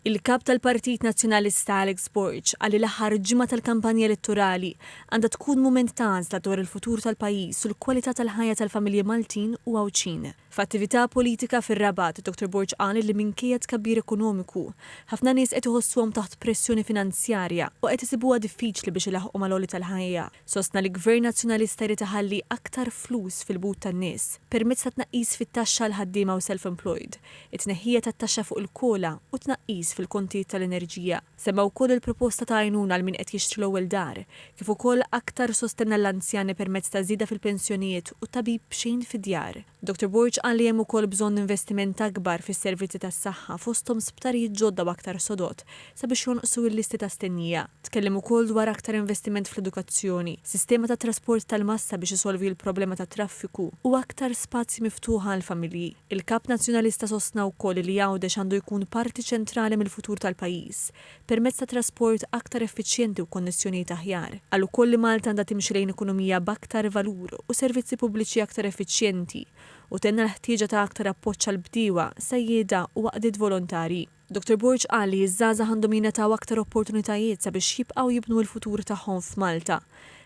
Il-Kap tal-Partit Nazzjonalista Alex Borg qal li l-aħħar ġimgħa tal-kampanja elettorali għandha tkun mument ta' għażla dwar il-futur tal-pajjiż u l-kwalità tal-ħajja tal-familji Maltin u Għawdxin. F'attività politika fir-Rabat, Dr Borg qal li minkejja t-tkabbir ekonomiku, ħafna nies qed iħossuhom taħt pressjoni finanzjarja u qed isibuha diffiċli biex ilaħħqu mal-għoli tal-ħajja. Sostna li Gvern Nazzjonalista jrid iħalli aktar flus fil-but tan-nies, permezz ta' tnaqqis fit-taxxa għall-ħaddiema u self-employed, it-tneħħija tat-taxxa fuq il-kola u tnaqqis fil-kontijiet tal-enerġija. Semma wkoll il-proposta ta' għajnuna għal min qed jixtri l-ewwel dar, kif ukoll aktar sostenn għall-anzjani permezz ta' żieda fil-pensjonijiet u tabib b'xejn fid-djar. Dottor Borg qal li hemm ukoll bżonn investiment akbar fis-servizzi tas-saħħa fosthom sptarijiet ġodda u aktar sodod sabiex jonqsu l-listi ta' stennija. Tkellem ukoll dwar aktar investiment fl-edukazzjoni, sistema tat-trasport tal-massa biex isolvi l-problema tat-traffiku, u aktar spazji miftuħa għall-familji. Il-Kap Nazzjonalista sostna wkoll li Għawdex għandu jkun parti ċentrali mill-futur tal-pajjiż, permezz ta' trasport aktar effiċjenti u konnessjonijiet aħjar. Qal ukoll li Malta għandha timxi lejn ekonomija b'aktar valur u servizzi pubbliċi aktar effiċjenti u tenna l-ħtieġa ta' aktar appoġġ għall-bdiewa, sajjieda u għaqdiet volontarji. Dottor Borg qal li ż-żgħażagħ għandhom jingħataw aktar opportunitajiet sabiex jibqgħu jibnu l-futur tagħhom f'Malta.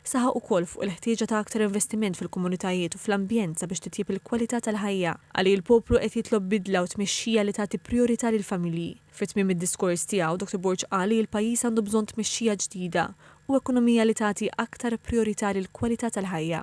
Saħaq ukoll fuq il-ħtieġa ta' aktar investiment fil-komunitajiet u fl-ambjent sabiex titjieb il-kwalità tal-ħajja. Qal li l-poplu qed jitlob bidla u tmexxija li tagħti prijorità lill-familji. Fi tmiem id-diskors tiegħu, Dottor Borg qal li l-pajjiż għandu bżonn tmexxija ġdida u ekonomija li tagħti aktar prijorità lill-kwalità tal-ħajja.